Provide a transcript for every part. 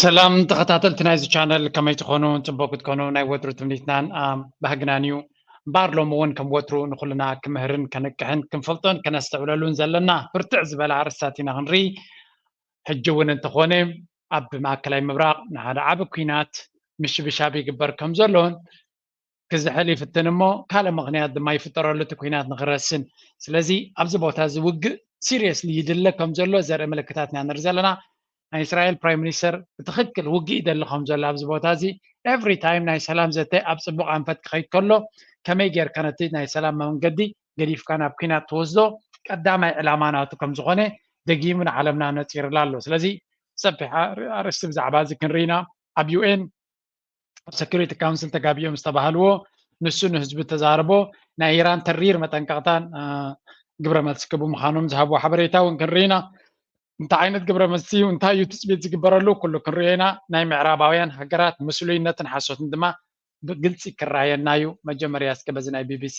ሰላም ተኸታተልቲ ናይዚ ቻነል ከመይ ትኾኑ ፅቡቅ ክትኮኑ ናይ ወትሩ ትምኒትናን ባህግናን እዩ እምበኣር ሎሚ እውን ከም ወትሩ ንኩልና ክምህርን ከንቅሕን ክንፈልጦን ከነስተውዕለሉን ዘለና ብርትዕ ዝበለ ኣርእስታት ኢና ክንርኢ ሕጂ እውን እንተኾነ ኣብ ማእከላይ ምብራቅ ንሓደ ዓቢ ኩናት ምሽብሻብ ይግበር ከም ዘሎን ክዝሕል ይፍትን እሞ ካልእ ምኽንያት ድማ ይፍጠረሉ እቲ ኩናት ንክረስን ስለዚ ኣብዚ ቦታ እዚ ውግእ ሲሪየስሊ ይድለ ከም ዘሎ ዘርኢ ምልክታት ኢና ንርኢ ዘለና ናይ እስራኤል ፕራይም ሚኒስተር ብትኽክል ውግእ ይደሊ ከም ዘሎ ኣብዚ ቦታ እዚ ኤቭሪ ታይም ናይ ሰላም ዘተ ኣብ ፅቡቕ ኣንፈት ክኸይድ ከሎ ከመይ ጌርካ ነቲ ናይ ሰላም መንገዲ ገዲፍካ ናብ ኩናት ትወስዶ ቀዳማይ ዕላማ ናቱ ከም ዝኾነ ደጊሙ ንዓለምና ነፂርላ ኣሎ ስለዚ ሰፊሕ ኣርእስቲ ብዛዕባ እዚ ክንርኢ ኢና ኣብ ዩኤን ኣብ ሰኪሪቲ ካውንስል ተጋቢኦም ዝተባሃልዎ ንሱ ንህዝቢ ተዛርቦ ናይ ኢራን ተሪር መጠንቀቕታን ግብረ መልሲ ክቡ ምዃኖም ዝሃብዎ ሓበሬታ እውን ክንርኢ ኢና እንታይ ዓይነት ግብረ መልሲ እዩ እንታይ እዩ ትፅቢት ዝግበረሉ ኩሉ ክንሪኦ ኢና ናይ ምዕራባውያን ሃገራት ምስሉይነትን ሓሶትን ድማ ብግልፂ ክረኣየና እዩ መጀመርያ እስከ በዚ ናይ ቢቢሲ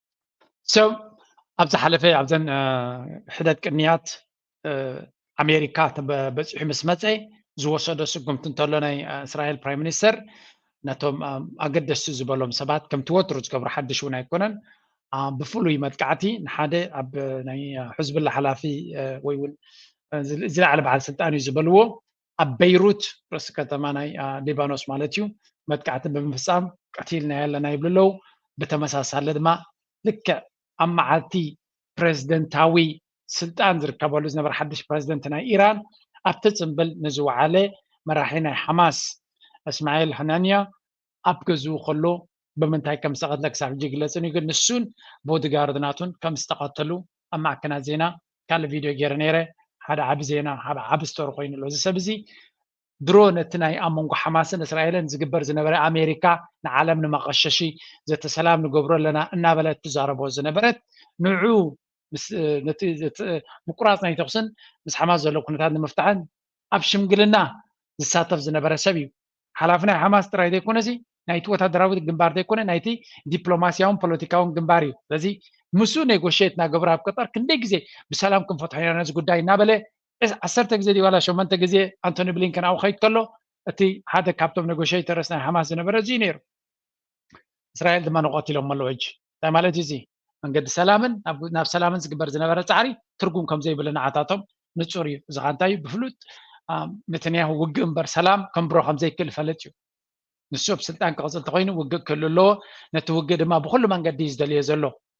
ኣብ ዝሓለፈ ኣብዘን ሕደት ቅንያት ኣሜሪካ በፂሑ ምስ መፀ ዝወሰዶ ስጉምቲ እንተሎ ናይ እስራኤል ፕራይ ሚኒስተር ነቶም ኣገደስቲ ዝበሎም ሰባት ከምቲ ወትሩ ዝገብሩ ሓድሽ እውን ኣይኮነን ብፍሉይ መጥቃዕቲ ንሓደ ኣብ ናይ ሕዝብላ ሓላፊ ወይ እውን ዝለዓለ በዓል ስልጣን እዩ ዝበልዎ ኣብ በይሩት ርእሲ ከተማ ናይ ሊባኖስ ማለት እዩ መጥቃዕቲ ብምፍፃም ቀቲልናዮ ኣለና ይብሉ ኣለዉ ብተመሳሳሊ ድማ ልክዕ ኣብ መዓልቲ ፕሬዝደንታዊ ስልጣን ዝርከበሉ ዝነበረ ሓድሽ ፕሬዝደንት ናይ ኢራን ኣብቲ ፅምብል ንዝወዓለ መራሒ ናይ ሓማስ እስማኤል ሃናንያ ኣብ ገዝኡ ከሎ ብምንታይ ከም ዝተቐትለ ክሳብ ሕጂ ኣይግለፅን እዩ። ግን ንሱን ቦዲጋርድ ናቱን ከም ዝተቐተሉ ኣብ ማዕከናት ዜና ካልእ ቪድዮ ገይረ ነይረ። ሓደ ዓቢ ዜና ሓደ ዓቢ ስቶሪ ኮይኑ ኣሎ። እዚ ሰብ እዚ ድሮ ነቲ ናይ ኣብ መንጎ ሓማስን እስራኤልን ዝግበር ዝነበረ ኣሜሪካ ንዓለም ንመቐሸሺ ዘተ ሰላም ንገብሮ ኣለና እናበለት ትዛረቦ ዝነበረት ንዑ ነቲ ምቁራፅ ናይ ተኹስን ምስ ሓማስ ዘሎ ኩነታት ንምፍታሕን ኣብ ሽምግልና ዝሳተፍ ዝነበረ ሰብ እዩ። ሓላፊ ናይ ሓማስ ጥራይ ዘይኮነሲ ናይቲ ወታደራዊ ግንባር ዘይኮነ ናይቲ ዲፕሎማስያውን ፖለቲካውን ግንባር እዩ ስለዚ ምስኡ ኔጎሽት እናገበሩ ኣብ ቀጠር ክንደይ ግዜ ብሰላም ክንፈትሖ ኢና ነዚ ጉዳይ እናበለ ዓሰርተ ግዜ ድዩ ዋላ ሸመንተ ግዜ ኣንቶኒ ብሊንከን ኣብኡ ከይድ ከሎ እቲ ሓደ ካብቶም ኔጎሽተርስ ናይ ሓማስ ዝነበረ እዚ እዩ ነይሩ እስራኤል ድማ ንቐትሎም ኣለዎ ሕጂ እንታይ ማለት እዩ እዚ መንገዲ ሰላምን ናብ ሰላምን ዝግበር ዝነበረ ፃዕሪ ትርጉም ከም ዘይብሉ ንዓታቶም ንፁር እዩ እዚ ከዓ እንታይ እዩ ብፍሉጥ ነተንያሁ ውግእ እምበር ሰላም ከንብሮ ከም ዘይክእል ይፈልጥ እዩ ንሱ ኣብ ስልጣን ክቕፅል እንተኮይኑ ውግእ ክህሉ ኣለዎ ነቲ ውግእ ድማ ብኩሉ መንገዲ እዩ ዝደልዮ ዘሎ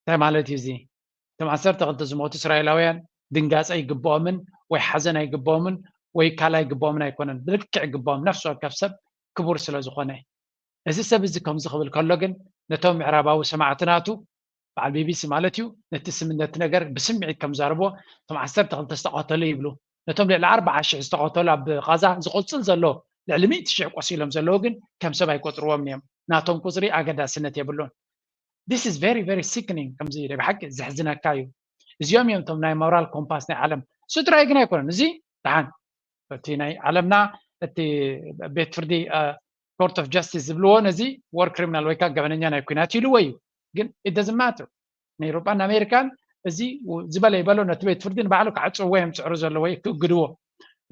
እንታይ ማለት እዩ እዚ? እቶም ዓሰርተ ክልተ ዝሞቱ እስራኤላውያን ድንጋጸ ይግብኦምን ወይ ሓዘን ኣይግብኦምን ወይ ካልእ ኣይግብኦምን ኣይኮነን ብልክዕ ይግብኦም ነፍሲ ወከፍ ሰብ ክቡር ስለ ዝኾነ እዚ ሰብ እዚ ከምዚ ክብል ከሎ ግን ነቶም ምዕራባዊ ሰማዕቲ ናቱ በዓል ቢቢሲ ማለት እዩ ነቲ ስም ነቲ ነገር ብስምዒት ከም ዛረብዎ እቶም ዓሰርተ ክልተ ዝተቐተሉ ይብሉ ነቶም ልዕሊ ኣርብዓ ሽሕ ዝተቐተሉ ኣብ ቓዛ ዝቕጽል ዘሎ ልዕሊ ሚእቲ ሽሕ ቆሲሎም ዘለዉ ግን ከም ሰብ ኣይቆጽርዎምን እዮም ናቶም ቁጽሪ ኣገዳስነት የብሉን this is very very sickening ከምዚ ናይ ብሓቂ ዘሕዝነካ እዩ እዚኦም እዮም እቶም ናይ ሞራል ኮምፓስ ናይ ዓለም ስድራይ ግን ኣይኮነን እዚ ደሓን እቲ ናይ ዓለምና እቲ ቤት ፍርዲ ኮርት ኦፍ ጃስቲስ ዝብልዎ ነዚ ወር ክሪሚናል ወይ ከዓ ገበነኛ ናይ ኩናት ኢልዎ እዩ ግን ኢት ደዝን ማተር ንኤሮጳን ኣሜሪካን እዚ ዝበለ ይበሎ ነቲ ቤት ፍርዲ ንባዕሉ ክዓፅዎ እዮም ዝፅዕሩ ዘለዎ ወይ ክእግድዎ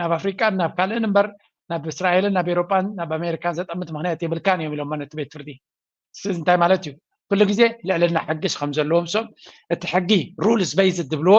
ናብ ኣፍሪቃን ናብ ካልእን እምበር ናብ እስራኤልን ናብ ኤሮጳን ናብ ኣሜሪካን ዘጠምት ምክንያት የብልካን እዮም ኢሎሞ ነቲ ቤት ፍርዲ ስለዚ እንታይ ማለት እዩ ኩሉ ግዜ ልዕልና ሕጊስ ከም ዘለዎም ሶም እቲ ሕጊ ሩልስ በይዝ ዝብልዎ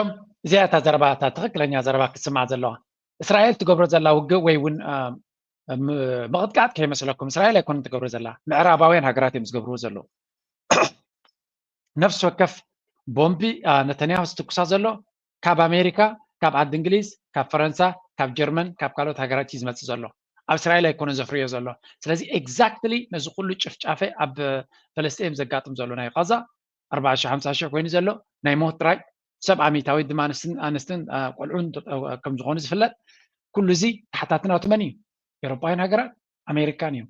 እም እዚኣ እታ ዘረባ እታ ትኽክለኛ ዘረባ ክትስማዕ ዘለዋ እስራኤል ትገብሮ ዘላ ውግእ ወይ እውን ምቕጥቃጥ ከይመስለኩም እስራኤል ኣይኮነ ትገብሮ ዘላ ምዕራባውያን ሃገራት እዮም ዝገብርዎ ዘለዉ ነፍሲ ወከፍ ቦምቢ ነተንያሁ ዝትኩሳ ዘሎ ካብ ኣሜሪካ ካብ ዓዲ እንግሊዝ ካብ ፈረንሳ ካብ ጀርመን ካብ ካልኦት ሃገራት እዩ ዝመፅእ ዘሎ ኣብ እስራኤል ኣይኮነ ዘፍርዮ ዘሎ ስለዚ ኤግዛክትሊ ነዚ ኩሉ ጭፍጫፈ ኣብ ፈለስጢኤም ዘጋጥም ዘሎ ናይ ቃዛ ኣርባዓ ሽሕ ሓምሳ ሽሕ ኮይኑ ዘሎ ናይ ሞት ጥራይ ሰብዓ ሚእታዊት ድማ ኣንስትን ቆልዑን ከም ዝኾኑ ዝፍለጥ ኩሉ እዚ ተሓታቲ ናቱ መን እዩ ኤሮፓውያን ሃገራት ኣሜሪካን እዮም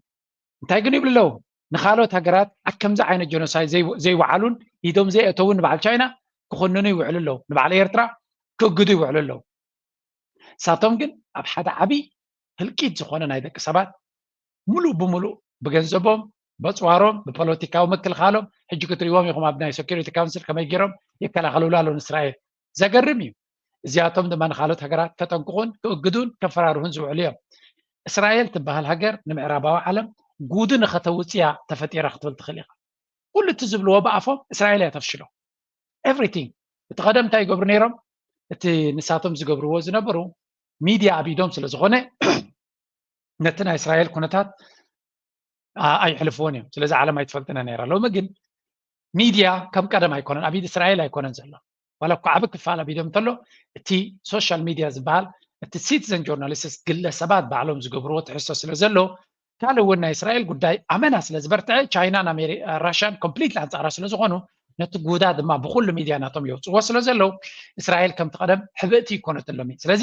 እንታይ ግን ይብሉ ኣለዉ ንካልኦት ሃገራት ከምዚ ዓይነት ጀኖሳይድ ዘይወዓሉን ኢዶም ዘይእተውን ንበዓል ቻይና ክኹንኑ ይውዕሉ ኣለዉ ንበዓል ኤርትራ ክእግዱ ይውዕሉ ኣለዉ ንሳቶም ግን ኣብ ሓደ ዓብዪ ህልቂት ዝኾነ ናይ ደቂ ሰባት ምሉእ ብምሉእ ብገንዘቦም በፅዋሮም ብፖለቲካዊ ምክልኻሎም ሕጂ ክትሪዎም ኢኹም ኣብ ናይ ሴኪሪቲ ካውንስል ከመይ ገይሮም ይከላኸልሉ ኣለዉ ንእስራኤል ዘገርም እዩ እዚኣቶም ድማ ንካልኦት ሃገራት ከጠንቅቑን ክእግዱን ከፈራርሁን ዝውዕሉ እዮም እስራኤል ትበሃል ሃገር ንምዕራባዊ ዓለም ጉድ ንኸተውፅያ ተፈጢራ ክትብል ትኽእል ኢኻ ኩሉ እቲ ዝብልዎ ብኣፎም እስራኤል እያ ተፍሽሎ ኤቭሪቲንግ እቲ ቀደም እንታይ ይገብሩ ነይሮም እቲ ንሳቶም ዝገብርዎ ዝነበሩ ሚድያ ኣብ ኢዶም ስለ ዝኾነ ነቲ ናይ እስራኤል ኩነታት ኣይሕልፍዎን እዮም ስለዚ ዓለም ኣይትፈልጥነ ነራ ሎሚ ግን ሚድያ ከም ቀደም ኣይኮነን ኣብ ኢድ እስራኤል ኣይኮነን ዘሎ ዋላ እኳ ዓብ ክፋል ኣብ ኢዶም እንተሎ እቲ ሶሻል ሚድያ ዝበሃል እቲ ሲቲዘን ጆርናሊስትስ ግለሰባት ባዕሎም ዝገብርዎ ትሕዝቶ ስለ ዘሎ ካልእ እውን ናይ እስራኤል ጉዳይ ኣመና ስለ ዝበርትዐ ቻይናን ራሽያን ኮምፕሊትሊ ኣንፃራ ስለ ዝኾኑ ነቲ ጉዳ ድማ ብኩሉ ሚድያ ናቶም የውፅዎ ስለ ዘለው እስራኤል ከምቲ ቀደም ሕብእቲ ይኮነትሎም እዩ ስለዚ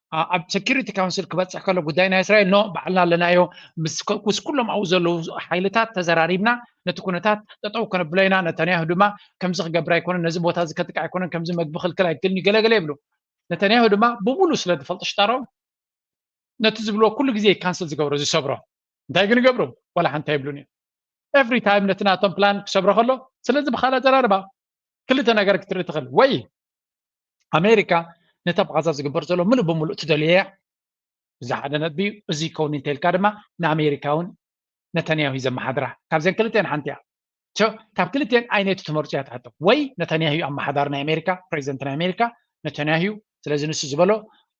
ኣብ ሴኪሪቲ ካውንስል ክበፅሕ ከሎ ጉዳይ ናይ እስራኤል ኖ ባዕልና ኣለናዮ ምስ ኩሎም ኣብኡ ዘለዉ ሓይልታት ተዘራሪብና ነቲ ኩነታት ጠጠው ከነብሎ ኢና ነተንያሁ ድማ ከምዚ ክገብር ኣይኮነን ነዚ ቦታ እዚ ከጥቅዕ ኣይኮነን ከምዚ መግቢ ክልክል ኣይክልን እዩ ገለገለ ይብሉ ነተንያሁ ድማ ብሙሉ ስለ ዝፈልጡ ሽጣሮ ነቲ ዝብልዎ ኩሉ ግዜ ካንስል ዝገብሮ ዝሰብሮ እንታይ ግን ይገብሩ ዋላ ሓንቲ ኣይብሉን እዮም ኤቭሪ ታይም ነቲ ናቶም ፕላን ክሰብሮ ከሎ ስለዚ ብካል ኣዘራርባ ክልተ ነገር ክትርኢ ትኽእል ወይ ኣሜሪካ ነታ ብጋዛ ዝግበር ዘሎ ምሉእ ብምሉእ ትደልዮ እያ እዚ ሓደ ነጥቢ እዩ እዚ ከውን እንተልካ ድማ ንኣሜሪካ እውን ነተንያሁ እዩ ዘመሓድራ ካብዘን ክልተን ሓንቲ እያ ካብ ክልተን ኣይነቱ ትመርፁ እያ ትሓቶ ወይ ነተንያሁ እዩ ኣመሓዳሪ ናይ ኣሜሪካ ፕሬዚደንት ናይ ኣሜሪካ ነተንያሁ እዩ ስለዚ ንሱ ዝበሎ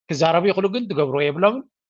ክዛረቡ ይኽእሉ ግን ዝገብርዎ የብሎምን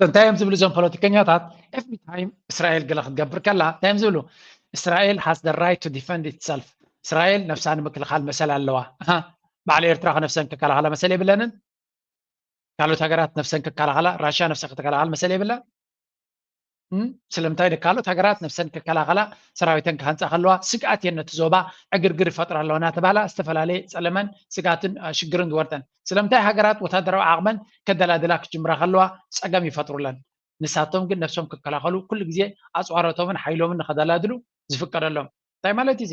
እንታይ እዮም ዝብሉ እዞም ፖለቲከኛታት ኤቭሪ ታይም እስራኤል ገለ ክትገብር ከላ እንታይ እዮም ዝብሉ እስራኤል ሃስ ደ ራይት ቱ ዲፈንድ ኢትሰልፍ እስራኤል ነብሳ ንምክልኻል መሰል ኣለዋ በዓል ኤርትራ ከነፍሰን ክከላኸላ መሰል የብለንን ካልኦት ሃገራት ነብሰን ክከላኸላ ራሽያ ነብሳ ከተከላኸል መሰል የብላን? ስለምንታይ ካልኦት ሃገራት ነብሰን ክከላኸላ ሰራዊተን ክሃንፃ ከለዋ ስግኣት እየን ነቲ ዞባ ዕግርግር ይፈጥራ ኣለዋ እናተባህላ ዝተፈላለየ ፀለመን ስጋትን ሽግርን ዝወርደን ስለምንታይ ሃገራት ወታደራዊ ዓቕመን ከደላድላ ክጅምራ ከለዋ ፀገም ይፈጥሩለን ንሳቶም ግን ነብሶም ክከላኸሉ ኩሉ ግዜ ኣፅዋሮቶምን ሓይሎምን ንከደላድሉ ዝፍቀደሎም እንታይ ማለት እዩ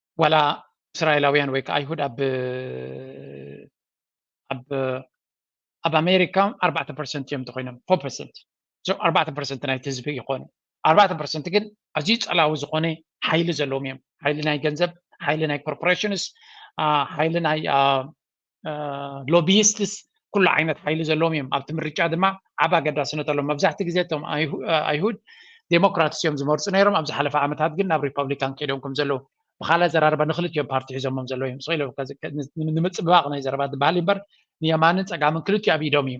ዋላ እስራኤላውያን ወይ ከዓ ኣይሁድ ኣብ ኣብ ኣብ ኣሜሪካ ኣርባዕተ ፐርሰንት እዮም ተኮይኖም ፎር ፐርሰንት እዞም ኣርባዕተ ፐርሰንት ናይቲ ህዝቢ ይኮኑ ኣርባዕተ ፐርሰንት ግን ኣዝዩ ፀላዊ ዝኮነ ሓይሊ ዘለዎም እዮም ሓይሊ ናይ ገንዘብ ሓይሊ ናይ ኮርፖሬሽንስ ሓይሊ ናይ ሎቢስትስ ኩሉ ዓይነት ሓይሊ ዘለዎም እዮም ኣብቲ ምርጫ ድማ ዓብ ኣገዳስነት ኣለዎም መብዛሕቲ ግዜ እቶም ኣይሁድ ዴሞክራትስ እዮም ዝመርፁ ነይሮም ኣብ ዝሓለፈ ዓመታት ግን ናብ ሪፐብሊካን ከይዶም ከም ዘለዉ ብካልእ ዘራርባ ንክልቲኦም ፓርቲ ሒዞሞም ዘለዉ እዮም ስኢለ ንምፅብባቅ ናይ ዘረባ ባህሊ እምበር ንየማንን ፀጋምን ክልቲኡ ኣብ ኢዶም እዩ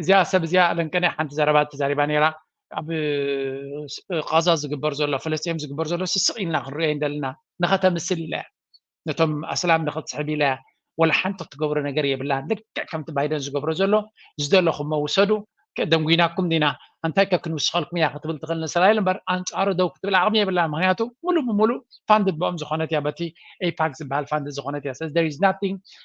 እዚኣ ሰብ እዚኣ ኣለንቀነ ሓንቲ ዘረባ ተዛሪባ ነራ ኣብ ቃዛ ዝግበር ዘሎ ፍለስም ዝግበር ዘሎ ስስቕ ኢልና ክንሪኦ እንደለና ንኸተምስል ኢለ እያ ነቶም ኣስላም ንኸትስሕብ ኢለ እያ ወላ ሓንቲ ክትገብሮ ነገር የብላን ልክዕ ከምቲ ባይደን ዝገብሮ ዘሎ ዝደለኹሞ ውሰዱ ደንጒናኩም ዲና እንታይ ከ ክንውስኸልኩም እያ ክትብል ትኽእል ንእስራኤል እምበር ኣንፃሩ ደው ክትብል ዓቕሚ የብላ ምክንያቱ ሙሉእ ብምሉእ ፋንድድ ብኦም ዝኾነት እያ በቲ ኤፓክ ዝበሃል ፋንድ ዝኾነት እያ ስለዚ ናቲንግ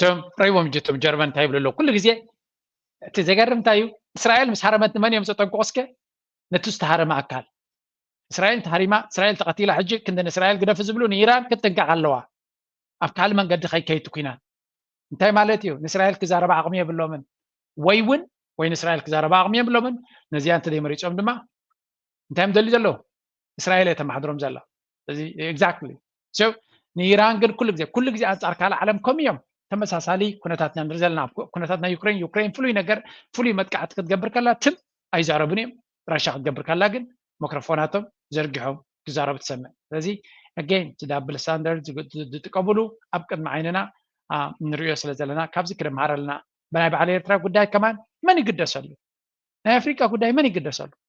ሰም ረይቦም ጅቶም ጀርመን እንታይ ይብሉ ኣለዉ ኩሉ ግዜ እቲ ዘገርም እንታይ እዩ እስራኤል ምስ ሃረመት ንመን እዮም ዘጠንቅቑ እስከ ነቲ ዝተሃረመ ኣካል እስራኤል ተሃሪማ እስራኤል ተቐቲላ ሕጂ ክንዲ ንእስራኤል ግደፊ ዝብሉ ንኢራን ክትጥንቀቕ ኣለዋ ኣብ ካልእ መንገዲ ከይከይቲ ኩናት እንታይ ማለት እዩ ንእስራኤል ክዛረባ ዓቕሚ የብሎምን ወይ እውን ወይ ንእስራኤል ክዛረባ ዓቕሚ የብሎምን ነዚኣ እንተዘይመሪፆም ድማ እንታይ እዮም ደልዩ ዘለዉ እስራኤል እየ ተማሓድሮም ዘላ እዚ ኤግዛክትሊ ንኢራን ግን ኩሉ ግዜ ኩሉ ግዜ ኣንፃር ካልእ ዓለም ከም እዮም ተመሳሳሊ ኩነታት ኢና ንርኢ ዘለና ኩነታት ናይ ዩክሬን ዩክሬን ፍሉይ ነገር ፍሉይ መጥቃዕቲ ክትገብር ከላ ትም ኣይዛረቡን እዮም ራሻ ክትገብር ከላ ግን መክሮፎናቶም ዘርጊሖም ክዛረቡ ትሰምዕ ስለዚ ኣገን እቲ ዳብል ስታንዳርድ ዝጥቀምሉ ኣብ ቅድሚ ዓይንና ንሪኦ ስለ ዘለና ካብዚ ክንምሃር ኣለና ብናይ በዓል ኤርትራ ጉዳይ ከማን መን ይግደሰሉ ናይ ኣፍሪቃ ጉዳይ መን ይግደሰሉ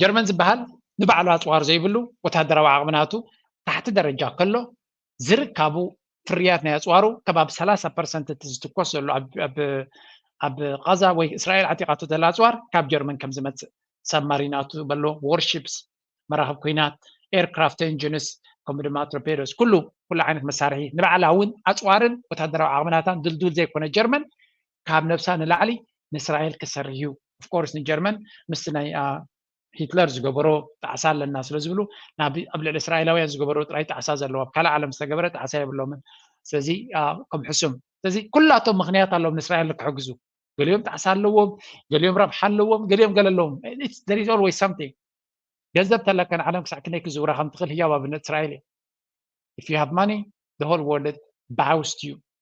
ጀርመን ዝበሃል ንባዕሉ ኣፅዋር ዘይብሉ ወታደራዊ ዓቕሚ ናቱ ታሕቲ ደረጃ ከሎ ዝርካቡ ፍርያት ናይ ኣፅዋሩ ከባቢ ሰላሳ ፐርሰንት እቲ ዝትኮስ ዘሎ ኣብ ቃዛ ወይ እስራኤል ዓጢቓቶ ዘላ ኣፅዋር ካብ ጀርመን ከም ዝመፅእ ሰብማሪናቱ በሎ ዎርሺፕስ መራኽብ ኩናት ኤርክራፍት ኤንጂንስ ከምኡ ድማ ቶርፔዶስ ኩሉ ኩሉ ዓይነት መሳርሒ ንባዕላ እውን ኣፅዋርን ወታደራዊ ዓቕምናታን ድልዱል ዘይኮነ ጀርመን ካብ ነብሳ ንላዕሊ ንእስራኤል ክሰርህ እዩ ኦፍኮርስ ንጀርመን ምስቲ ናይ ሂትለር ዝገበሮ ጣዕሳ ኣለና ስለ ዝብሉ ናብ ኣብ ልዕሊ እስራኤላውያን ዝገበሮ ጥራይ ጣዕሳ ዘለዎ ኣብ ካልእ ዓለም ዝተገበረ ጣዕሳ የብሎምን ስለዚ ከም ሕሱም ስለዚ ኩላቶም ምክንያት ኣለዎም ንእስራኤል ንክሕግዙ ገሊኦም ጣዕሳ ኣለዎም ገሊኦም ረብሓ ኣለዎም ገሊኦም ገለ ኣለዎም ወይ ሳምቲንግ ገንዘብ ተለካ ንዓለም ክሳዕ ክንደይ ክዝውራ ከም ትኽእል ህያው ኣብነት እስራኤል እዩ if you have money the whole world bows to you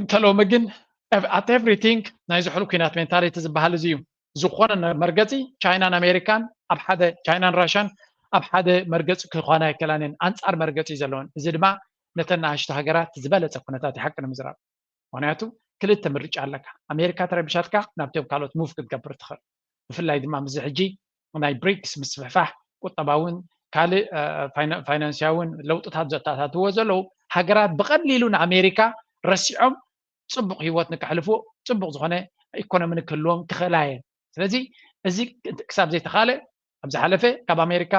እንተ ሎሚ ግን ኣት ኤቭሪቲንግ ናይ ዝሑል ኩናት ሜንታሊቲ ዝበሃል እዚ እዩ ዝኾነ መርገፂ ቻይናን ኣሜሪካን ኣብ ሓደ ቻይናን ራሻን ኣብ ሓደ መርገፂ ክኾና ኣይከላን እየን ኣንፃር መርገፂ እዩ ዘለወን እዚ ድማ ነተን ንኣሽቱ ሃገራት ዝበለፀ ኩነታት እዩ ሓቂ ንምዝራብ ምክንያቱ ክልተ ምርጫ ኣለካ ኣሜሪካ ተረቢሻትካ ናብቶም ካልኦት ሙቭ ክትገብር ትኽእል ብፍላይ ድማ ምስዚ ሕጂ ናይ ብሪክስ ምስፍሕፋሕ ቁጠባዊን ካልእ ፋይናንስያዊን ለውጥታት ዘተኣታትውዎ ዘለዉ ሃገራት ብቐሊሉ ንኣሜሪካ ረሲዖም ፅቡቕ ህይወት ንከሕልፉ ፅቡቕ ዝኾነ ኢኮኖሚ ንክህልዎም ክኽእላ እየን ስለዚ እዚ ክሳብ ዘይተኻለ ኣብ ዝሓለፈ ካብ ኣሜሪካ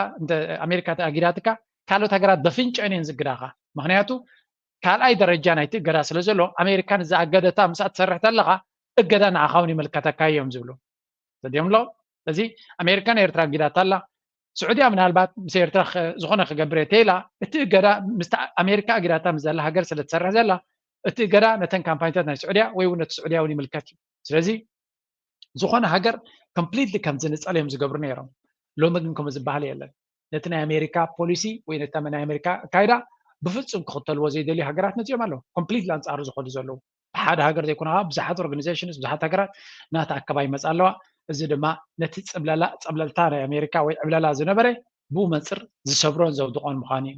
ኣሜሪካ ተኣጊዳትካ ካልኦት ሃገራት በፍንጨን እየን ዝግዳኻ ምክንያቱ ካልኣይ ደረጃ ናይቲ እገዳ ስለ ዘሎ ኣሜሪካ ንዛ ኣገደታ ምስኣ ትሰርሕ ተለኻ እገዳ ንዓኻ እውን ይምልከተካ እዮም ዝብሉ ሰዲዮም ኣለዉ እዚ ኣሜሪካ ንኤርትራ ኣጊዳታ ኣላ ስዑድያ ምናልባት ምስ ኤርትራ ዝኾነ ክገብር እየ ተይላ እቲ እገዳ ምስ ኣሜሪካ ኣጊዳታ ምስ ዘላ ሃገር ስለ ትሰርሕ ዘላ እቲ እገዳ ነተን ካምፓኒታት ናይ ስዑድያ ወይ እውን ነቲ ስዑድያ እውን ይምልከት እዩ ስለዚ ዝኾነ ሃገር ኮምፕሊትሊ ከም ዝንፀል እዮም ዝገብሩ ነይሮም ሎሚ ግን ከምኡ ዝበሃል የለን ነቲ ናይ ኣሜሪካ ፖሊሲ ወይ ነቲ ናይ ኣሜሪካ ኣካይዳ ብፍፁም ክኽተልዎ ዘይደልዩ ሃገራት መፂኦም ኣለዉ ኮምፕሊት ኣንፃሩ ዝኸዱ ዘለዉ ብሓደ ሃገር ዘይኮነ ከዓ ብዙሓት ኦርጋኒዜሽንስ ብዙሓት ሃገራት ናቲ ኣከባ ይመፃ ኣለዋ እዚ ድማ ነቲ ፅብለላ ፀብለልታ ናይ ኣሜሪካ ወይ ዕብለላ ዝነበረ ብኡ መንፅር ዝሰብሮን ዘውድቖን ምዃኑ እዩ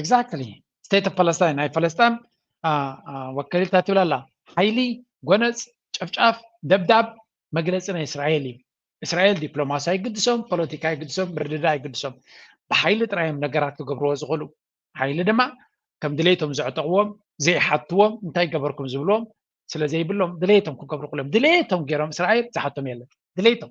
ኤግዛክትሊ ስቴት ኦፍ ፓለስታይን ናይ ፈለስጣን ወከሊት እንታይ ትብል ኣላ ሓይሊ ጎነፅ ጨፍጫፍ ደብዳብ መግለፂ ናይ እስራኤል እዩ እስራኤል ዲፕሎማሲ ኣይግድሶም ፖለቲካ ኣይግድሶም ምርድዳ ኣይግድሶም ብሓይሊ ጥራይ እዮም ነገራት ክገብርዎ ዝኽእሉ ሓይሊ ድማ ከም ድሌቶም ዘዕጠቕዎም ዘይሓትዎም እንታይ ገበርኩም ዝብልዎም ስለ ዘይብሎም ድሌቶም ክገብሩ ክሎም ድሌቶም ገይሮም እስራኤል ዝሓቶም የለን ድሌቶም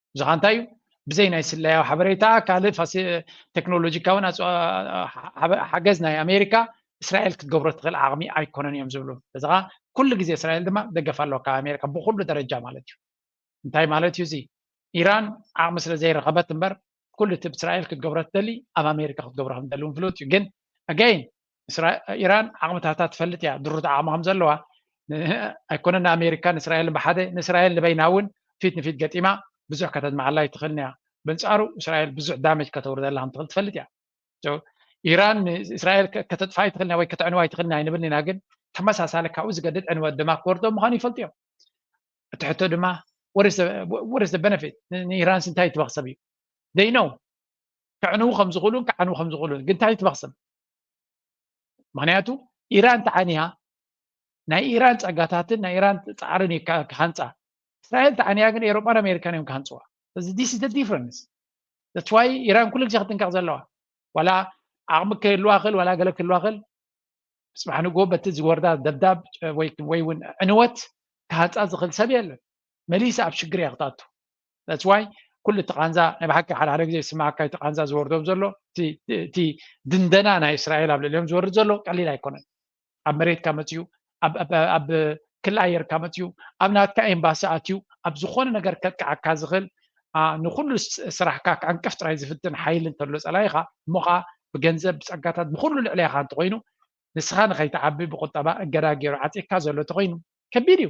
ብዝኻ እንታይ እዩ ብዘይ ናይ ስለያዊ ሓበሬታ ካልእ ቴክኖሎጂካውን ሓገዝ ናይ ኣሜሪካ እስራኤል ክትገብሮ ትኽእል ዓቕሚ ኣይኮነን እዮም ዝብሉ እዚ ከዓ ኩሉ ግዜ እስራኤል ድማ ደገፍ ኣለዎ ካብ ኣሜሪካ ብኩሉ ደረጃ ማለት እዩ እንታይ ማለት እዩ እዚ ኢራን ዓቕሚ ስለ ዘይረኸበት እምበር ኩሉ እቲ እስራኤል ክትገብሮ ትደሊ ኣብ ኣሜሪካ ክትገብሮ ከምደሊ እውን ፍሉጥ እዩ ግን ኣገይን ኢራን ዓቕምታታ ትፈልጥ እያ ድሩት ዓቕሚ ከም ዘለዋ ኣይኮነን ንኣሜሪካን እስራኤልን ብሓደ ንእስራኤል ንበይና እውን ፊት ንፊት ገጢማ ብዙሕ ከተድምዓላ ይትኽእል እያ በንጻሩ እስራኤል ብዙሕ ዳመጅ ከተውርደላ ከም ትኽእል ትፈልጥ እያ ኢራን ንእስራኤል ከተጥፋ ይትኽእል ወይ ከተዕንዋ ይትኽእል ኣይንብል ኢና ግን ተመሳሳሊ ካብኡ ዝገድድ ዕንወት ድማ ክወርዶ ምዃኑ ይፈልጡ እዮም እቲ ሕቶ ድማ ወርስ ዘ በነፊት ንኢራንስ እንታይ ይትበኽሰብ እዩ ደይነው ከዕንዉ ከም ዝኽእሉን ክዓንዉ ከም ዝኽእሉን ግን እንታይ ይትበኽሰብ ምክንያቱ ኢራን ተዓንያ ናይ ኢራን ፀጋታትን ናይ ኢራን ፃዕርን እዩ ክሃንፃ እስራኤል ተዓንያ ግን ኤሮጳን ኣሜሪካን እዮም ክሃንፅዋ እዚ ዲስ ኢዝ ዲፍረንስ ተስዋይ ኢራን ኩሉ ግዜ ክትንቀቕ ዘለዋ ዋላ ዓቕሚ ክህልዋ ክእል ዋላ ገለ ክህልዋ ክእል ፅባሕ ንግሆ በቲ ዝወርዳ ደብዳብ ወይ እውን ዕንወት ክሃንፃ ዝኽእል ሰብ የለን መሊሳ ኣብ ሽግር እያ ክትኣቱ ዳትስ ዋይ ኩሉ እቲ ቃንዛ ናይ ብሓቂ ሓደ ሓደ ግዜ ዝስማዓካ እቲ ቃንዛ ዝወርዶም ዘሎ እቲ ድንደና ናይ እስራኤል ኣብ ልዕሊኦም ዝወርድ ዘሎ ቀሊል ኣይኮነን ኣብ መሬትካ መፅኡ ኣብ ክሊ ኣየርካ መፅኡ ኣብ ናትካ ኤምባሲ ኣትዩ ኣብ ዝኾነ ነገር ከጥቅዓካ ዝኽእል ንኩሉ ስራሕካ ክዕንቅፍ ጥራይ ዝፍትን ሓይሊ እንተሎ ፀላኢኻ እሞ ከዓ ብገንዘብ ብፀጋታት ብኩሉ ልዕሊያኻ እንተኮይኑ ንስኻ ንኸይትዓቢ ብቁጠባ እገዳ ገይሩ ዓፂካ ዘሎ እንተኮይኑ ከቢድ እዩ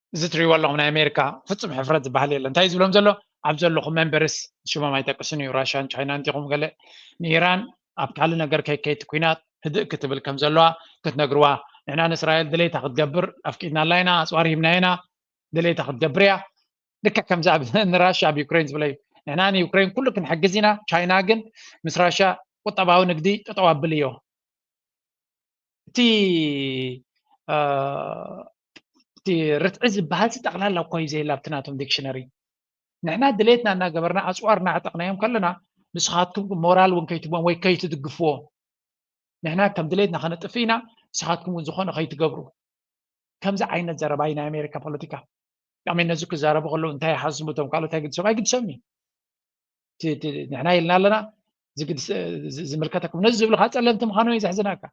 እዚ ትሪእዎ ኣለኹም ናይ ኣሜሪካ ፍፁም ሕፍረት ዝበሃል የለን እንታይ ዝብሎም ዘሎ ኣብ ዘለኹም መንበርስ ሽሞም ኣይጠቅስን እዩ ራሽያን ቻይናን ዲኹም ገለ ንኢራን ኣብ ካልእ ነገር ከይከይቲ ኩናት ህድእ ክትብል ከም ዘለዋ ክትነግርዋ ንሕና ንእስራኤል ድሌታ ክትገብር ኣፍቂድናላ ኢና ኣፅዋር ሂብና ኢና ድሌታ ክትገብር እያ ልክዕ ከምዚ ኣብ ንራሻ ኣብ ዩክሬን ዝብለ እዩ ንሕና ንዩክሬን ኩሉ ክንሕግዝ ኢና ቻይና ግን ምስ ራሻ ቁጠባዊ ንግዲ ጠጠው ኣብል እዮ እቲ እቲ ርትዒ ዝበሃል ጠቕላላ እኳ እዩ ዘየላ ኣብቲ ናቶም ዲክሽነሪ ንሕና ድሌትና እናገበርና ኣፅዋር እናዕጠቕናዮም ከለና ንስኻትኩም ሞራል እውን ከይትቦም ወይ ከይትድግፍዎ ንሕና ከም ድሌትና ከነጥፍ ኢና ንስኻትኩም እውን ዝኾነ ከይትገብሩ ከምዚ ዓይነት ዘረባ እዩ ናይ ኣሜሪካ ፖለቲካ ዳሜ ነዚ ክዛረቡ ከለዉ እንታይ ይሓስቡ እቶም ካልኦት ኣይግድሶም ኣይግድሶም እዩ ንሕና ኢልና ኣለና ዝምልከተኩም ነዚ ዝብልካ ፀለምቲ ምዃኖም እዩ ዘሕዝናካ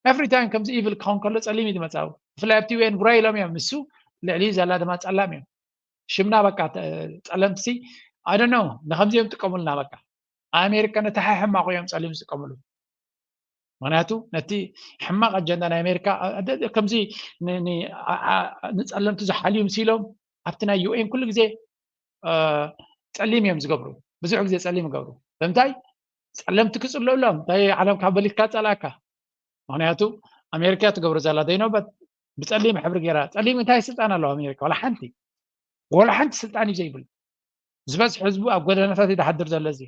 ኤፍሪ ታይም ከምዚ ኢቭል ክኸውን ከሎ ፀሊም እዩ ዝመፃዊ ብፍላይ ኣብቲ ዩኤን ጉራይ ኢሎም እዮም ንሱ ልዕሊ ዘላ ድማ ፀላም እዮም ሽምና በቃ ፀለምቲ ኣደኖ ንከምዚኦም ጥቀሙልና በቃ ኣሜሪካ ነቲ ሓይ ሕማቑ እዮም ፀሊም ዝጥቀምሉ ምክንያቱ ነቲ ሕማቕ ኣጀንዳ ናይ ኣሜሪካ ከምዚ ንፀለምቲ ዝሓልዩ ምሲሎም ኣብቲ ናይ ዩኤን ኩሉ ግዜ ፀሊም እዮም ዝገብሩ ብዙሕ ግዜ ፀሊም ይገብሩ ብምንታይ ፀለምቲ ክፅልኡሎም እንታይ ዓለም ካብ በሊትካ ፀላእካ ምክንያቱ ኣሜሪካ ትገብሮ ዘላ ዘይነበበት ብፀሊም ሕብሪ ገይራ ፀሊም እንታይ ስልጣን ኣለዋ ኣሜሪካ ዋላ ሓንቲ ዋላ ሓንቲ ስልጣን እዩ ዘይብሉ ዝበዝሕ ህዝቡ ኣብ ጎደናታት ይድሓድር ዘሎ እዚ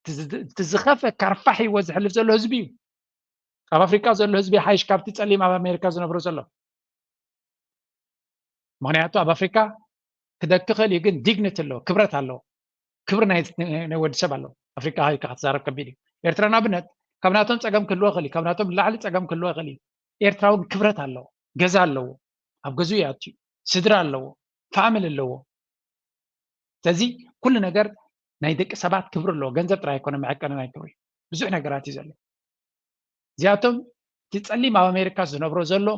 እቲ ዝኸፈ ካርፋሕ ሂወ ዝሕልፍ ዘሎ ህዝቢ እዩ ኣብ ኣፍሪቃ ዘሎ ህዝቢ ሓይሽ ካብቲ ጸሊም ኣብ ኣሜሪካ ዝነብሮ ዘሎ ምክንያቱ ኣብ ኣፍሪካ ክደኪ ክእል እዩ ግን ዲግኒቲ ኣለዎ ክብረት ኣለዎ ክብሪ ናይ ወዲ ሰብ ኣለዎ ኣፍሪካ ሃይካ ክትዛረብ ከቢድ እዩ ኤርትራ ንኣብነት ካብ ናቶም ፀገም ክህልዎ ይኽእል እዩ ካብ ናቶም ንላዕሊ ፀገም ክህልዎ ይኽእል እዩ ኤርትራ እውን ክብረት ኣለዎ ገዛ ኣለዎ ኣብ ገዝኡ ይኣትዩ ስድራ ኣለዎ ፋሚሊ ኣለዎ ስለዚ ኩሉ ነገር ናይ ደቂ ሰባት ክብሪ ኣለዎ ገንዘብ ጥራይ ኣይኮነ መዐቀኒ ናይ ክብሪ ብዙሕ ነገራት እዩ ዘሎ እዚኣቶም እቲ ፀሊም ኣብ ኣሜሪካ ዝነብሮ ዘሎ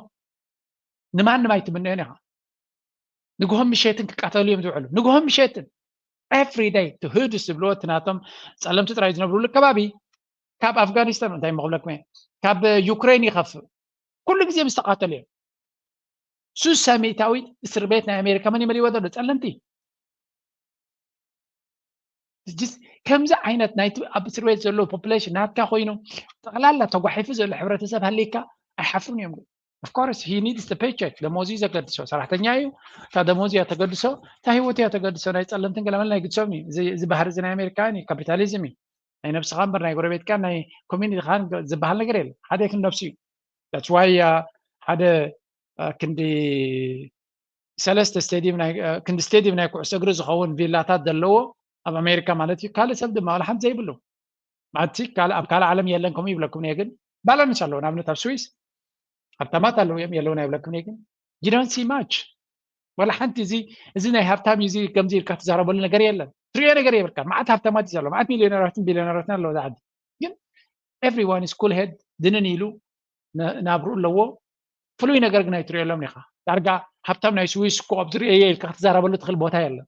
ንማንም ኣይትምንዮን ኢኻ ንግሆም ምሸትን ክቃተሉ እዮም ዝውዕሉ ንግሆም ምሸትን ኤፍሪ ደይ እቲ ህዱስ ዝብልዎ እቲ ናቶም ፀለምቲ ጥራይ ዝነብርሉ ከባቢ ካብ ኣፍጋኒስታን እንታይ መክብለኩም እየ ካብ ዩክሬን ይኸፍእ ኩሉ ግዜ ምስ ተቃተሉ እዮም ሱስ ሰሜታዊት እስር ቤት ናይ ኣሜሪካ መን ይመልይዎ ዘሎ ፀለምቲ ከምዚ ዓይነት ናይቲ ኣብ እስር ቤት ዘሎ ፖፕሌሽን ናትካ ኮይኑ ጠቕላላ ተጓሒፉ ዘሎ ሕብረተሰብ ሃሊካ ኣይሓፍሩን እዮም ኦፍኮርስ ሂ ኒድስ ፔቸክ ደሞዝ እዩ ዘገድሶ ሰራሕተኛ እዩ እታ ደሞዝ እያ ተገድሶ እታ ሂወት እያ ተገድሶ ናይ ፀለምትን ገለመል ናይ ግድሶም እዩ እዚ ባህሪ እዚ ናይ ኣሜሪካውያን እዩ ካፒታሊዝም እዩ ናይ ነብስኻ እምበር ናይ ጎረቤትካ ናይ ኮሚኒቲኻን ዝበሃል ነገር የለ ሓደ ክንዲ ነብሱ እዩ ዳትዋይ ሓደ ክንዲ ሰለስተ ስቴድየም ክንዲ ስቴድየም ናይ ኩዕሶ እግሪ ዝኸውን ቪላታት ዘለዎ ኣብ ኣሜሪካ ማለት እዩ ካልእ ሰብ ድማ ዋላ ሓንቲ ዘይብሉ ማለትቲ ኣብ ካልእ ዓለም የለን ከምኡ ይብለኩም እየ ግን ባላንስ ኣለዎ ንኣብነት ኣብ ስዊስ ሃብታማት ኣለዉ እዮም የለውን ኣይብለክም ግን ጂዶንሲ ማች ዋላ ሓንቲ እዚ እዚ ናይ ሃብታም እዩ እዚ ከምዚ ኢልካ ትዛረበሉ ነገር የለን ትሪኦ ነገር የብልካ ማዓት ሃብታማት እዩ ዘሎ ማዓት ሚሊዮነራትን ቢሊዮነራትን ኣለዎ ዝዓዲ ግን ኤቭሪዋን ኢስ ኩል ሄድ ድንን ኢሉ ናብርኡ ኣለዎ ፍሉይ ነገር ግን ኣይትሪኦሎም ኢኻ ዳርጋ ሃብታም ናይ ስዊስ ኮ ኣብ ዝርኤየ ኢልካ ክትዛረበሉ ትኽእል ቦታ የለን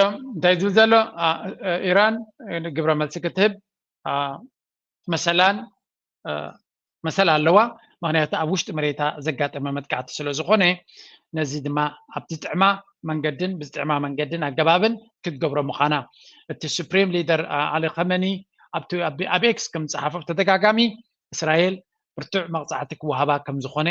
እንታይ ዝብል ዘሎ ኢራን ግብረ መልሲ ክትህብ መሰላን መሰል ኣለዋ ምክንያቱ ኣብ ውሽጢ መሬታ ዘጋጠመ መጥቃዕቲ ስለ ዝኾነ ነዚ ድማ ኣብ ዝጥዕማ መንገድን ብዝጥዕማ መንገድን ኣገባብን ክትገብሮ ምዃና እቲ ሱፕሪም ሊደር ኣሊ ከመኒ ኣብ ኤክስ ከም ዝፀሓፎ ብተደጋጋሚ እስራኤል ብርቱዕ መቕፃዕቲ ክወሃባ ከም ዝኾነ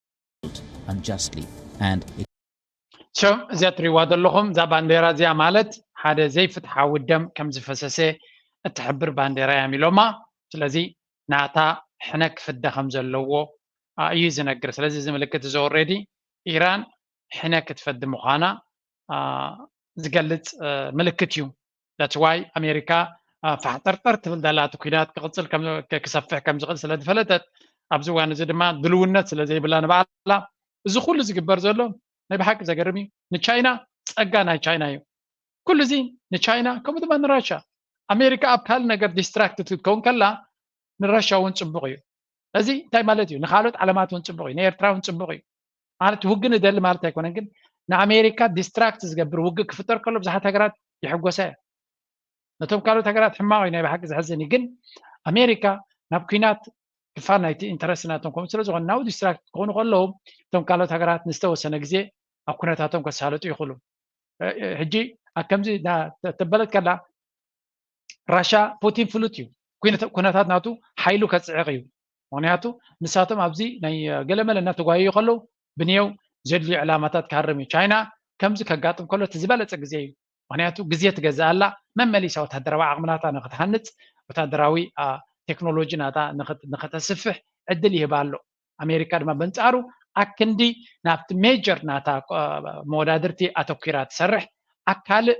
እዚኣ እትሪእዋ ዘለኹም እዛ ባንዴራ እዚኣ ማለት ሓደ ዘይፍትሓዊ ደም ከም ዝፈሰሰ እትሕብር ባንዴራ እያ ኢሎማ። ስለዚ ናታ ሕነ ክፍደ ከም ዘለዎ እዩ ዝነግር። ስለዚ እዚ ምልክት እዚ ኦልሬዲ ኢራን ሕነ ክትፈዲ ምዃና ዝገልፅ ምልክት እዩ። That's why ኣሜሪካ ፋሕጠርጠር ትብል ዘላ እቲ ኩናት ክቕፅል ክሰፍሕ ከም ዝኽእል ስለ ዝፈለጠት ኣብዚ እዋን እዚ ድማ ድልውነት ስለ ዘይብላ ንባዕላ እዚ ኩሉ ዝግበር ዘሎ ናይ ብሓቂ ዘገርም እዩ ንቻይና ፀጋ ናይ ቻይና እዩ ኩሉ እዚ ንቻይና ከምኡ ድማ ንራሻ ኣሜሪካ ኣብ ካልእ ነገር ዲስትራክት ክትከውን ከላ ንረሻ እውን ፅቡቕ እዩ እዚ እንታይ ማለት እዩ ንካልኦት ዓለማት እውን ፅቡቕ እዩ ንኤርትራ እውን ፅቡቕ እዩ ማለት ውግ ንደሊ ማለት ኣይኮነን ግን ንኣሜሪካ ዲስትራክት ዝገብር ውግ ክፍጠር ከሎ ብዙሓት ሃገራት ይሕጎሳ እየ ነቶም ካልኦት ሃገራት ሕማቕ እዩ ናይ ብሓቂ ዘሕዝን እዩ ግን ኣሜሪካ ናብ ኩናት ክፋል ናይቲ ኢንተረስት ናቶም ከምኡ ስለ ዝኾነ ናብ ዲስትራክት ክኾኑ ከለዉ እቶም ካልኦት ሃገራት ንዝተወሰነ ግዜ ኣብ ኩነታቶም ከሳለጡ ይኽእሉ ሕጂ ኣብ ከምዚ ተበለት ከላ ራሻ ፑቲን ፍሉጥ እዩ ኩነታት ናቱ ሓይሉ ከፅዕቕ እዩ ምክንያቱ ንሳቶም ኣብዚ ናይ ገለመለ እናተጓየዩ ከለዉ ብንየው ዘድልዩ ዕላማታት ክሃርም እዩ ቻይና ከምዚ ከጋጥም ከሎ እቲ ዝበለፀ ግዜ እዩ ምክንያቱ ግዜ ትገዝእ ኣላ መመሊሳ ወታደራዊ ዓቕምናታ ንክትሃንፅ ወታደራዊ ቴክኖሎጂ ናታ ንክተስፍሕ ዕድል ይህባ ኣሎ ኣሜሪካ ድማ በንፃሩ ኣክንዲ ናብቲ ሜጀር ናታ መወዳድርቲ ኣተኪራ ትሰርሕ ኣካልእ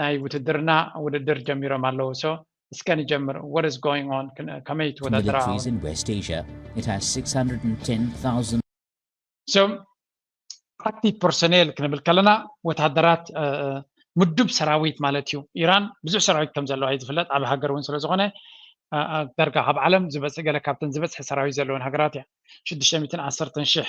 ናይ ውትድርና ውድድር ጀሚሮም ኣለዉ so እስከ ንጀምር what is going on ከመይ ትወዳደራ so ኣክቲቭ ፐርሶኔል ክንብል ከለና ወታደራት ምዱብ ሰራዊት ማለት እዩ ኢራን ብዙሕ ሰራዊት ከም ዘለዋ እዩ ዝፍለጥ ኣብ ሃገር እውን ስለ ዝኾነ ዳርጋ ካብ ዓለም ዝበፅ ገለ ካብተን ዝበፅሐ ሰራዊት ዘለወን ሃገራት እያ ሽዱሽተ ሚትን ዓሰርተን ሽሕ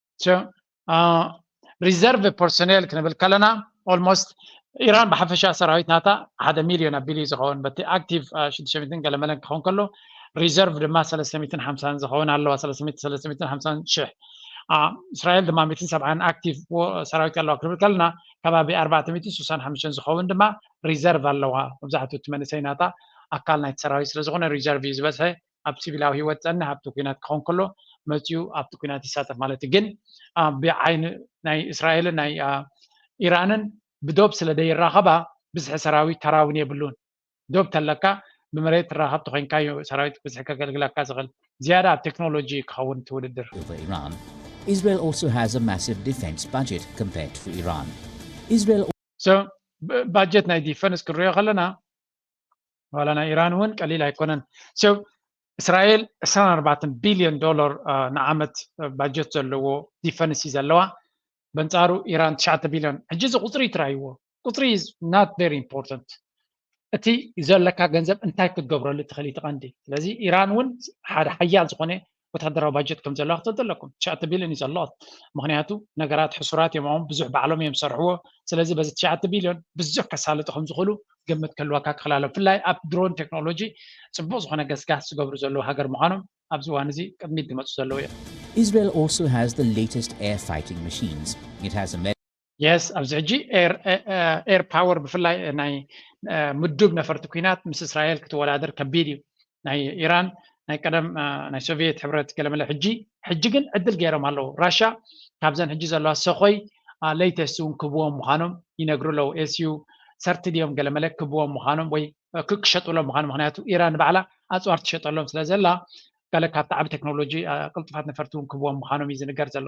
ሪዘርቭ ፐርሶኔል ክንብል ከለና ኦልሞስት ኢራን ብሓፈሻ ሰራዊት ናታ ሓደ ሚልዮን ኣቢሉ እዩ ዝኸውን በቲ ኣክቲቭ ሽዱሽተ ሚትን ገለመለን ክኸውን ከሎ ሪዘርቭ ድማ ሰለስተ ሚትን ሓምሳን ዝኸውን ኣለዋ ሰለስተ ሚትን ሰለስተ ሚትን ሓምሳን ሽሕ እስራኤል ድማ ሚትን ሰብዓን ኣክቲቭ ሰራዊት ኣለዋ ክንብል ከለና ከባቢ ኣርባዕተ ሚትን ስሳን ሓምሽተን ዝኸውን ድማ ሪዘርቭ ኣለዋ መብዛሕትኡ እቲ መንእሰይ ናታ ኣካል ናይቲ ሰራዊት ስለዝኾነ ሪዘርቭ እዩ ዝበዝሐ ኣብ ሲቪላዊ ሂወት ዝጸንሕ ኣብቲ ኩናት ክኾን ከሎ መጺኡ ኣብቲ ኩናት ይሳተፍ ማለት እዩ ግን ብዓይኒ ናይ እስራኤልን ናይ ኢራንን ብዶብ ስለ ዘይራኸባ ብዝሒ ሰራዊት ተራውን የብሉን ዶብ ተለካ ብመሬት ትራኸብ ተኮይንካ እዩ ሰራዊት ብዝሒ ከገልግለካ ዝኽእል ዝያዳ ኣብ ቴክኖሎጂ ክኸውን እቲ ውድድር Israel also has a massive defense budget compared to Iran. Israel ባጀት ናይ ዲፈንስ ክንሪኦ ከለና ዋላ ናይ ኢራን እውን ቀሊል ኣይኮነን ሶ እስራኤል 24 ቢልዮን ዶላር ንዓመት ባጀት ዘለዎ ዲፈንስ እዩ ዘለዋ በንጻሩ ኢራን 9 ቢልዮን ሕጂ እዚ ቁፅሪ ትራይዎ ቁፅሪ ናት ቨሪ ኢምፖርታንት እቲ ዘለካ ገንዘብ እንታይ ክትገብረሉ ትኽእል እቲ ቀንዲ ስለዚ ኢራን እውን ሓደ ሓያል ዝኾነ ወተሃደራዊ ባጀት ከም ዘለዋ ክትፈልጡ ኣለኩም ትሽዓተ ቢልዮን እዩ ዘሎት ምክንያቱ ነገራት ሕሱራት እዮም ኦም ብዙሕ ባዕሎም እዮም ዝሰርሕዎ ስለዚ በዚ ትሽዓተ ቢልዮን ብዙሕ ከሳልጡ ከም ዝኽእሉ ግምት ክህልወካ ክኽእል ኣሎ ብፍላይ ኣብ ድሮን ቴክኖሎጂ ጽቡቅ ዝኾነ ገስጋስ ዝገብሩ ዘለዉ ሃገር ምዃኖም ኣብዚ እዋን እዚ ቅድሚት ዝመጹ ዘለዉ እዮም Israel also has the latest air fighting machines. It has a የስ ኣብዚ ሕጂ ኤር ፓወር ብፍላይ ናይ ምዱብ ነፈርቲ ኩናት ምስ እስራኤል ክትወዳደር ከቢድ እዩ ናይ ኢራን ናይ ቀደም ናይ ሶቪየት ሕብረት ገለመለ ሕጂ ሕጂ ግን ዕድል ገይሮም ኣለዉ ራሻ ካብዘን ሕጂ ዘለዋ ሰኮይ ለይተስቲ እውን ክብዎም ምዃኖም ይነግሩ ኣለዉ ኤስዩ ሰርቲ ድዮም ገለመለ ክብዎም ምዃኖም ወይ ክሸጥሎም ምዃኑ ምክንያቱ ኢራን ንባዕላ ኣፅዋር ትሸጠሎም ስለ ዘላ ገለ ካብቲ ዓብ ቴክኖሎጂ ቅልጡፋት ነፈርቲ እውን ክብዎም ምዃኖም እዩ ዝንገር ዘሎ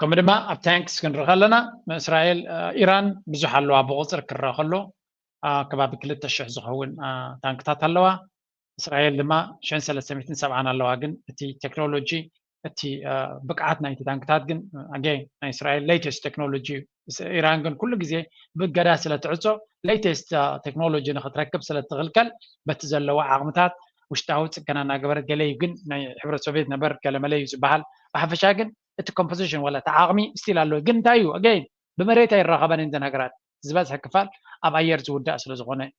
ከምኡ ድማ ኣብ ታንክስ ክንርኢ ከለና እስራኤል ኢራን ብዙሕ ኣለዋ ብቁፅሪ ክረአ ከሎ ከባቢ ክልተ ሽሕ ዝኸውን ታንክታት ኣለዋ እስራኤል ድማ ሽሕን ሰለስተ ሚእትን ሰብዓን ኣለዋ ግን እቲ ቴክኖሎጂ እቲ ብቅዓት ናይቲ ታንክታት ግን ኣገ ናይ እስራኤል ሌተስት ቴክኖሎጂ እዩ ምስ ኢራን ግን ኩሉ ግዜ ብእገዳ ስለ ትዕጾ ለይተስት ቴክኖሎጂ ንክትረክብ ስለ ትኽልከል በቲ ዘለዋ ዓቕምታት ውሽጣዊ ጽገና እናገበረት ገለ እዩ ግን ናይ ሕብረት ሶቪየት ነበር ገለመለ እዩ ዝበሃል ብሓፈሻ ግን እቲ ኮምፖዚሽን ወላ እቲ ዓቕሚ ስቲል ኣሎ ግን እንታይ እዩ ኣገይን ብመሬት ኣይራኸበን እየን እተን ሃገራት ዝበዝሐ ክፋል ኣብ ኣየር ዝውዳእ ስለ ዝኾነ እዩ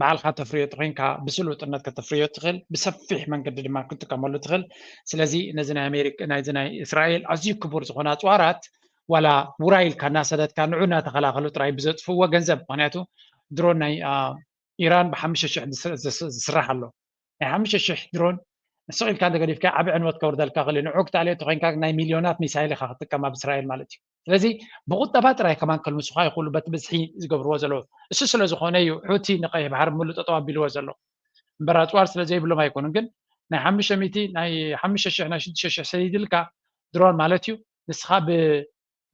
ባዕልኻ ተፍርዮ ተኾይንካ ብስሉጥነት ከተፍርዮ ትኽእል ብሰፊሕ መንገዲ ድማ ክትጥቀመሉ ትኽእል ስለዚ ነዚ ናይ ኣሜሪካ ናይዚ ናይ እስራኤል ኣዝዩ ክቡር ዝኾነ ኣፅዋራት ዋላ ውራይ ኢልካ እናሰደትካ ንዑ እናተኸላኸሉ ጥራይ ብዘጥፍዎ ገንዘብ ምክንያቱ ድሮን ናይ ኢራን ብሓሙሽተ ሽሕ ዝስራሕ ኣሎ ናይ ሓሙሽተ ሽሕ ድሮን ስቕ ኢልካ እንተገዲፍካ ዓብ ዕንወት ከውርደልካ ክእል ንዑ ክትኣልዮ ተኮይንካ ናይ ሚልዮናት ሚሳይል ኢካ ክትጥቀም ኣብ እስራኤል ማለት እዩ ስለዚ ብቁጠባ ጥራይ ከማን ከልምሱኻ ይኽእሉ በቲ ብዝሒ ዝገብርዎ ዘለዉ እሱ ስለ ዝኾነ እዩ ሑቲ ንቀይሕ ባሕሪ ምሉ ጠጠው ኣቢልዎ ዘሎ እምበር ኣፅዋር ስለ ዘይብሎም ኣይኮኑን ግን ናይ ሓሙሽተ ሚእቲ ናይ ሓሙሽተ ሽሕ ናይ ሽዱሽተ ሽሕ ሰዲድልካ ድሮን ማለት እዩ ንስኻ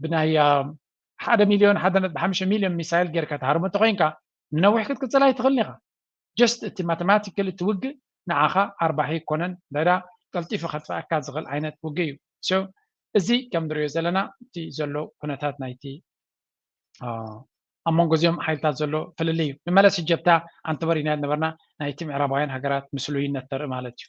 ብናይ ሓደ ሚልዮን ሓደ ነጥቢ ሓሙሽተ ሚልዮን ሚሳይል ጌርካ ትሃርሙ እንተኮይንካ ንነዊሕ ክትቅፅል ኣይትኽእልን ኢኻ ጀስት እቲ ማተማቲካሊ እቲ ውግእ ንዓኻ ኣርባሒ ኣይኮነን እንተድኣ ቀልጢፉ ከጥፍኣካ ዝኽእል ዓይነት ውግእ እዩ so እዚ ከም ንሪኦ ዘለና እቲ ዘሎ ኩነታት ናይቲ ኣብ መንጎ እዚኦም ሓይልታት ዘሎ ፍልልይ እዩ ንመለስ እጀብታ ኣንተበሪና ዝነበርና ናይቲ ምዕራባውያን ሃገራት ምስሉይነት ተርኢ ማለት እዩ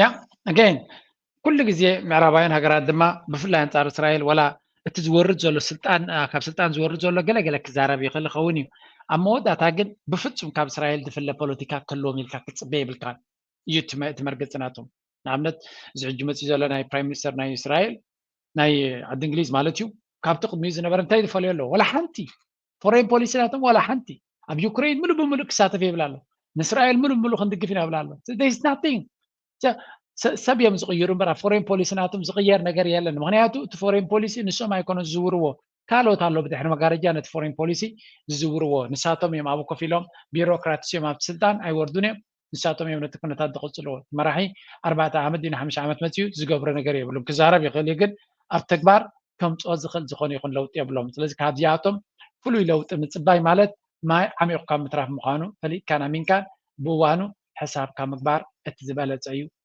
ያ ኣገይን ኩሉ ግዜ ምዕራባውያን ሃገራት ድማ ብፍላይ ኣንጻር እስራኤል ወላ እቲ ዝወርድ ዘሎ ስልጣን ካብ ስልጣን ዝወርድ ዘሎ ገለገለ ክዛረብ ይኽእል ይኸውን እዩ ኣብ መወዳእታ ግን ብፍጹም ካብ እስራኤል ዝፍለ ፖለቲካ ክህልዎም ኢልካ ክትፅበ የብልካን እዩ እቲ መርገፂ ናቶም ንኣብነት እዚ ሕጂ መፅኡ ዘሎ ናይ ፕራይም ሚኒስተር ናይ እስራኤል ናይ ዓዲ እንግሊዝ ማለት እዩ ካብቲ ቅድሚኡ ዝነበረ እንታይ ዝፈልዮ ኣለዎ ወላ ሓንቲ ፎሬን ፖሊሲ ናቶም ዋላ ሓንቲ ኣብ ዩክሬን ምሉእ ብምሉእ ክሳተፍ የብል ኣሎ ንእስራኤል ምሉእ ብምሉእ ክንድግፍ ኢና ይብል ኣሎ ናቲንግ ሰብ እዮም ዝቕይሩ እምበር ኣብ ፎሬን ፖሊሲ ናቶም ዝቕየር ነገር የለን ምክንያቱ እቲ ፎሬን ፖሊሲ ንሶም ኣይኮነ ዝዝውርዎ ካልኦት ኣሎ ብድሕሪ መጋረጃ ነቲ ፎሬን ፖሊሲ ዝዝውርዎ ንሳቶም እዮም ኣብ ኮፍ ኢሎም ቢሮክራትስ እዮም ኣብቲ ስልጣን ኣይወርዱን እዮም ንሳቶም እዮም ነቲ ኩነታት ዝቕጽልዎ። እቲ መራሒ ኣርባዕተ ዓመት ድዩ ንሓሙሽተ ዓመት መጺኡ ዝገብሮ ነገር የብሉን። ክዛረብ ይኽእል እዩ ግን ኣብ ተግባር ከምጽኦ ዝኽእል ዝኾነ ይኹን ለውጢ የብሎምን። ስለዚ ካብዚኣቶም ፍሉይ ለውጢ ምጽባይ ማለት ማይ ዓሚቝካ ምትራፍ ምዃኑ ፈሊጥካን ኣሚንካን ብእዋኑ ሕሳብካ ምግባር እቲ ዝበለጸ እዩ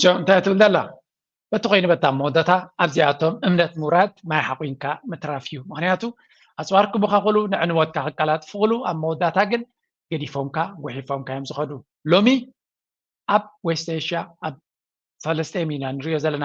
ሽዑ እንታይ ትብል ዘላ በቲ ኮይኑ በታ መወዳእታ ኣብዚኣቶም እምነት ምውራድ ማይ ሓቑንካ ምትራፍ እዩ ምክንያቱ ኣፅዋር ክቡካ ክሉ ንዕንወትካ ክቀላጥፉ ክሉ ኣብ መወዳእታ ግን ገዲፎምካ ጉሒፎምካ እዮም ዝኸዱ ሎሚ ኣብ ዌስት ኤሽያ ኣብ ፈለስጤም ኢና ንሪኦ ዘለና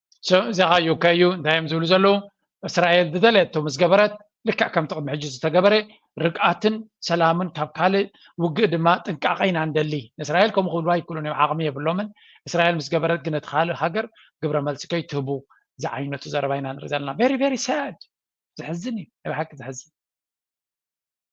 እዚኻ ዩከ እዩ እንታይ እዮም ዝብሉ ዘለዉ እስራኤል ዝደለየቶ ምስ ገበረት ልክዕ ከም ጥቕሚ ሕጂ ዝተገበረ ርግኣትን ሰላምን ካብ ካልእ ውግእ ድማ ጥንቃቐ ኢና ንደሊ ንእስራኤል ከምኡ ክብልዋ ይክእሉን እዮም ዓቕሚ የብሎምን እስራኤል ምስ ገበረት ግን እቲ ካልእ ሃገር ግብረ መልሲ ከይትህቡ ዝዓይነቱ ዘረባ ኢና ንርኢ ዘለና ቨሪ ቨሪ ሳድ ዘሕዝን እዩ ናይ ብሓቂ ዘሕዝን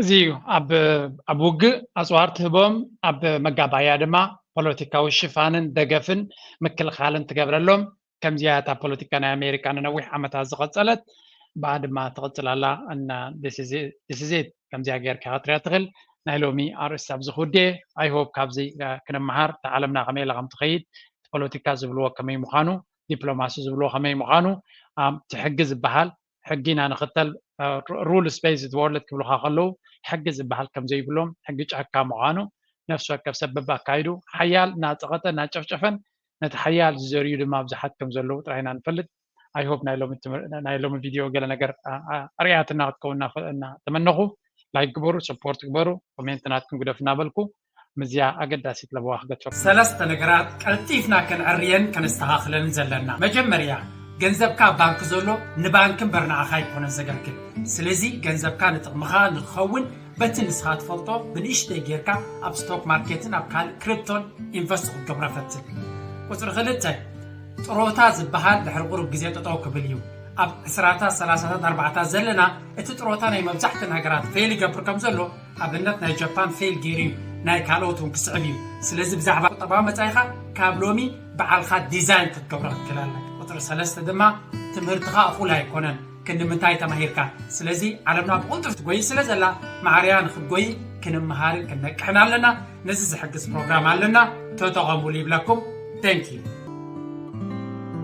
እዚ እዩ ኣብ ውግእ ኣፅዋር ትህቦም ኣብ መጋባእያ ድማ ፖለቲካዊ ሽፋንን ደገፍን ምክልኻልን ትገብረሎም ከምዚያ እታ ፖለቲካ ናይ ኣሜሪካ ንነዊሕ ዓመታት ዝቐፀለት ብኣ ድማ ትቕፅል ኣላ እና ዲስዜት ከምዚያ ጌርካ ክትሪያ ትኽእል ናይ ሎሚ ኣርእስቲ ኣብዚ ክውድየ ኣይሆፕ ካብዚ ክንመሃር እቲ ዓለምና ከመይ ኢላ ከም ትኸይድ እቲ ፖለቲካ ዝብልዎ ከመይ ምዃኑ ዲፕሎማሲ ዝብልዎ ከመይ ምዃኑ ትሕጊ ዝበሃል ሕጊ ኢና ንኽተል ሩልስ ቤዝድ ወርልድ ክብሉኻ ከለዉ ሕጊ ዝበሃል ከም ዘይብሎም ሕጊ ጫካ ምዃኑ ነፍሲ ወከፍ ሰብ በብኣካይዱ ሓያል እናፀቐጠ እናጨፍጨፈን ነቲ ሓያል ዝዘርዩ ድማ ብዙሓት ከም ዘለዉ ጥራይ ኢና ንፈልጥ ኣይሆፕ ናይ ሎሚ ቪድዮ ገለ ነገር ኣርያትና ክትከውን እናተመነኹ ላይክ ግበሩ ሰፖርት ግበሩ ኮሜንት ናትኩም ግደፉ እናበልኩ ምስዛ ኣገዳሲት ለበዋ ክገትረኩም። ሰለስተ ነገራት ቀልጢፍና ከነዐርየን ከነስተኻኽለንን ዘለና። መጀመርያ፣ ገንዘብካ ኣብ ባንኪ ዘሎ ንባንኪ እምበር ንዓኻ ኣይኮነን ዘገልግል። ስለዚ ገንዘብካ ንጥቕምኻ ንክኸውን በቲ ንስኻ ትፈልጦ ብንእሽተይ ጌርካ ኣብ ስቶክ ማርኬትን ኣብ ካልእ ክሪፕቶን ኢንቨስት ክትገብሮ ፈትን። ቁጽሪ ክልተ፣ ጥሮታ ዝበሃል ድሕሪ ቁሩብ ግዜ ጠጠው ክብል እዩ። ኣብ ዕስራታት፣ ሰላሳታት፣ ኣርባዓታት ዘለና እቲ ጥሮታ ናይ መብዛሕተን ሃገራት ፌል ይገብር ከምዘሎ ኣብነት ናይ ጃፓን ፌል ገይሩ እዩ ናይ ካልኦት እውን ክስዕብ እዩ ስለዚ ብዛዕባ ቁጠባዊ መፃኢኻ ካብ ሎሚ በዓልካ ዲዛይን ክትገብሮ ክትክእል ኣለካ ቁፅሪ ሰለስተ ድማ ትምህርትኻ እኹል ኣይኮነን ክንምንታይ ተማሂርካ ስለዚ ዓለምና ብቕልጡፍ ትጎይ ስለ ዘላ ማዕርያ ንክትጎይ ክንምሃርን ክንነቅሕን ኣለና ነዚ ዝሕግዝ ፕሮግራም ኣለና ተጠቐሙሉ ይብለኩም ተንኪዩ